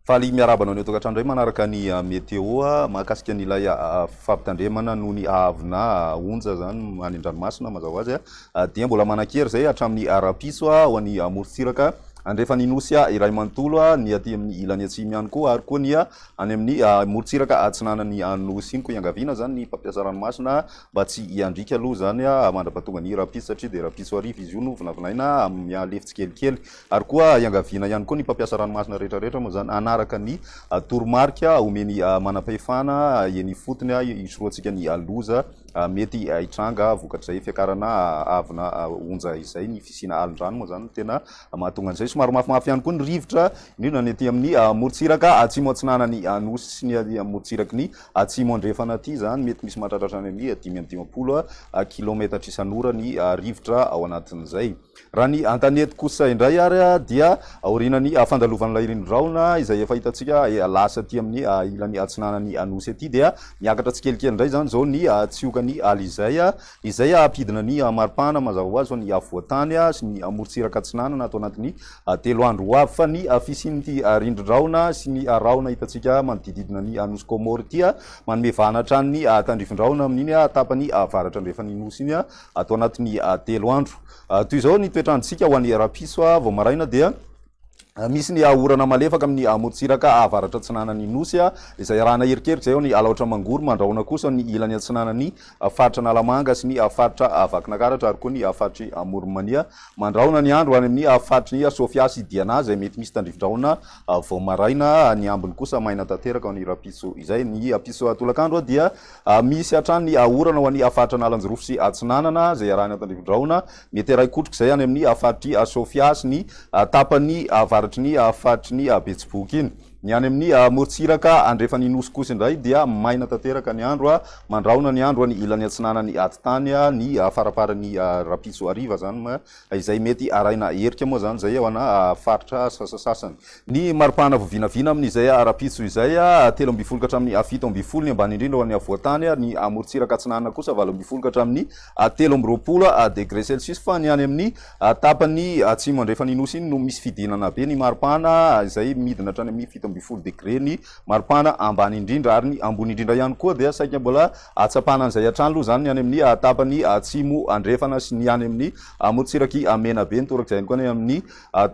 Faly miarahaba anao any an-tokantrano indray manaraka ny ah, météo ah, mahakasika an'ilay ah, fampitandremana noho ny haavona onja izany any an-dranomasina mazava ho azy dia mbola manan-kery izay hatramin'ny rahampitso ho an'ny morontsiraka andrefan'ny nosy iray manontolo ny aty amin'ny ilany atsimo ihany koa ary koa ny Any amin'ny morontsiraka atsinanan'ny Nosy iny koa iangaviana izany ny mpampiasa ranomasina mba tsy hiandriaka aloha izany mandrapahatonga ny rahampitso satria dia rahampitso hariva izy io no vinavinaina mihalefy tsikelikely. Ary koa iangaviana ihany koa ny mpampiasa ranomasina rehetrarehetra moa izany hanaraka ny toromarika omen'ny manampahefana eny ifotony hisorohantsika ny loza mety hitranga vokatr'izay fiakarana avona onja izay. Ny fisiana alin-drano moa izany no tena Ka mahatonga an'izay somary mafimafy ihany koa ny rivotra, indrindra ny aty amin'ny morontsiraka atsimo atsinanan'ny Nosy sy ny aty amin'ny morontsiraky ny atsimo andrefana aty. Izany mety misy mahatratra hatrany amin'ny dimy amby dimampolo kilaometatra isan'ora ny rivotra ao anatin'izay. Raha ny an-tanety kosa indray ary dia aorianan'ny fandalovan'ilay rinorahona izay efa hitantsika lasa aty amin'ny ilany atsinanan'ny Nosy aty dia miakatra tsikelikely indray izany izao ny tsihokan'i Alizay izay hampidina ny maripana mazava ho azy ho an'ny afovoan-tany sy ny morontsiraka atsinanana ato anatin'ny telo andro ho avy, fa ny fisian'ity rindrin-drahona sy ny rahona hitantsika manodididina ny nosy Kômôro ity, manome vahana hatrany ny tandrifin-drahona amin'iny tapany avaratra andrefan'ny nosy iny ato anatin'ny telo andro. Toy izao ny toetr'androntsika ho an'ny rahampitso, vao maraina dia. Misy ny orana malefaka amin'ny amorontsiraka avaratra-atsinanan'ny Nosy, izay arahana erikeriky izay eo ny Alaotra Mangoro, mandrahona kosa ny ilany atsinanan'ny Faritra Analamanga sy ny Faritra Vakinakaratra ary koa ny Faritr'i Amoronmania. Mandrahona ny andro any amin'ny Faritry ny Sofia sy Diana izay mety misy tandrivi-drahona vao maraina, ny ambiny kosa maina tanteraka ny rahampitso izay. Ny ampitso tolakandro dia misy hatrany ny orana ho an'ny Faritra Analanjirofo sy Atsinanana izay arahana tandrivi-drahona Mety iray kotroka izay any amin'ny faritr'i Sofia sy ny tapany avaratry ny faritry ny Betsiboka iny. Ny any amin'ny morontsiraka andrefan'ny Nosy kosa indray dia maina tanteraka ny andro mandrahona ny andro any ilany atsinanan'ny atitany ny faramparan'ny rahampitso hariva izany, izay mety arahina herika moa izany izay ho ana faritra sasasasany. Ny mari-pahana voavinavina amin' izay ara-pitsotro izay, telo ambin'ny folo ka hatramin'ny fito ambin'ny folo ny ambany indrindra ho an'ny afovoan-tany, ary ny morontsiraka atsinanana kosa valo ambin'ny folo ka hatramin'ny telo amby roapolo degre celsius, fa ny any amin'ny tapany atsimo andrefan' i Nosy iny no misy fidinana be ny mari-pahana, izay midina hatrany amin'ny fito ambin'ny folo degre ny mari-pahana ambany indrindra, ary ny ambony indrindra ihany koa dia saika mbola ahatsapana an'izay hatrany aloha izany ny any amin'ny tapany atsimo andrefana sy ny any amin'ny morontsirak'i Menabe, ny torak'izay ihany koa ny any amin'ny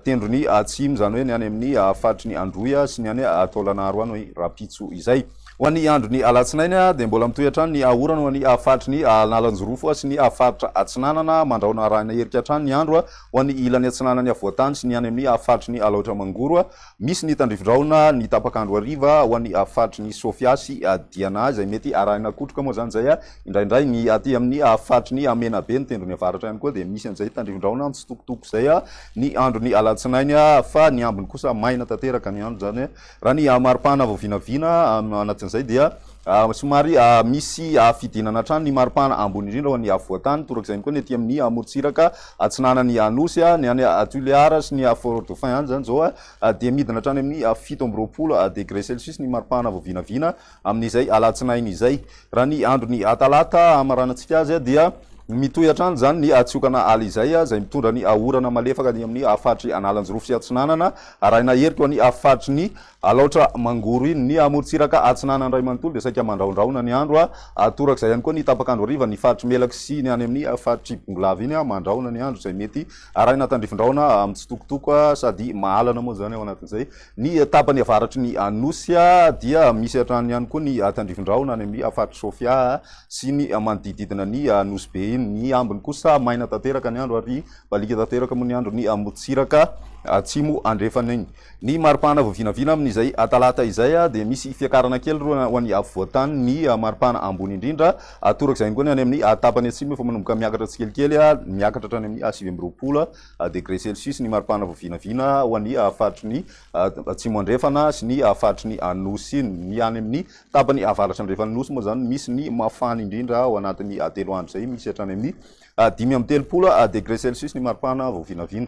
Tendrony atsimo, izany hoe ny any amin'ny faritry ny Androy sy ny any Taolagnaro any rahampitso izay. Ho an'ny andron'ny alatsinainy dia mbola mitohy hatrany ny orana ho an'ny faritry ny Analanjirofo sy ny faritra Atsinanana mandrahona arahina erika hatrany ny andro ho an'ny ilany atsinanan'ny afovoan-tany sy ny any amin'ny faritry ny Alaotra Mangoro Misy ny tandrifin-drahona ny tapak'andro hariva ho an'ny faritry ny Sofia sy Diana izay mety arahina kotroka moa izany izay indraindray. Ny aty amin'ny faritry ny Menabe, ny tendrony avaratra ihany koa dia misy an'izay tandrifin-drahona mitsitokotoko izay ny andron'ny alatsinainy fa ny ambiny kosa maina tanteraka ny andro izany raha ny maripana vao vinavina anatin'izay dia somary misy fidinana hatrany ny maripana ambony indrindra ho an'ny afovoan-tany torak'izay ihany koa ny aty amin'ny morontsiraka atsinanan'i Anosy, ny any Tuléar sy ny Fort Dauphin any izany izao dia midina hatrany amin'ny fito amby roapolo degré celsius ny maripana vao vinavina amin'izay alatsinainy izay. Raha ny andron'ny talata hamaranantsika azy dia mitohy hatrany izany ny tsiokana ala izay, izay mitondra ny orana malefaka ny amin'ny faritry Analanjirofo sy Atsinanana arahina herika ho any faritry ny Alaotra Mangoro iny. Ny amorontsiraka atsinanana iray manontolo dia saika mandrahondrahona ny andro. Torak'izay ihany koa ny tapak'andro hariva, ny faritr'i Melaky sy ny any amin'ny faritr'i Bongolava iny mandrahona ny andro izay mety arahina tandrifin-drahona mitsitokotoko sady mahalana moa izany ao anatin'izay. Ny tapany avaratry ny Nosy dia misy hatrany ihany koa ny tandrifin-drahona any amin'ny faritr'i Sofia sy ny manodidididina ny Nosy Be iny. Ny ambiny kosa maina tanteraka ny andro ary mibaliaka tanteraka moa ny andro ny amorontsiraka atsimo andrefana iny. Ny maripana voavinavina amin' izay Talata izay dia misy fiakarana kely roa ho an'ny afovoan-tany, ny maripana ambony indrindra toraka izay angoany any amin'ny tapany atsimo efa manomboka miakatra tsikelikely miakatra hatrany amin'ny sivy amby roapolo degre celsius ny maripana voavinavina ho an'ny faritry ny atsimo andrefana sy ny faritry ny Anosy, ny any amin'ny tapany avaratra andrefan'ny Nosy moa izany misy ny mafana indrindra ao anatin'ny telo andro izay misy hatrany amin'ny dimy amby telopolo degre celsius ny maripana voavinavina.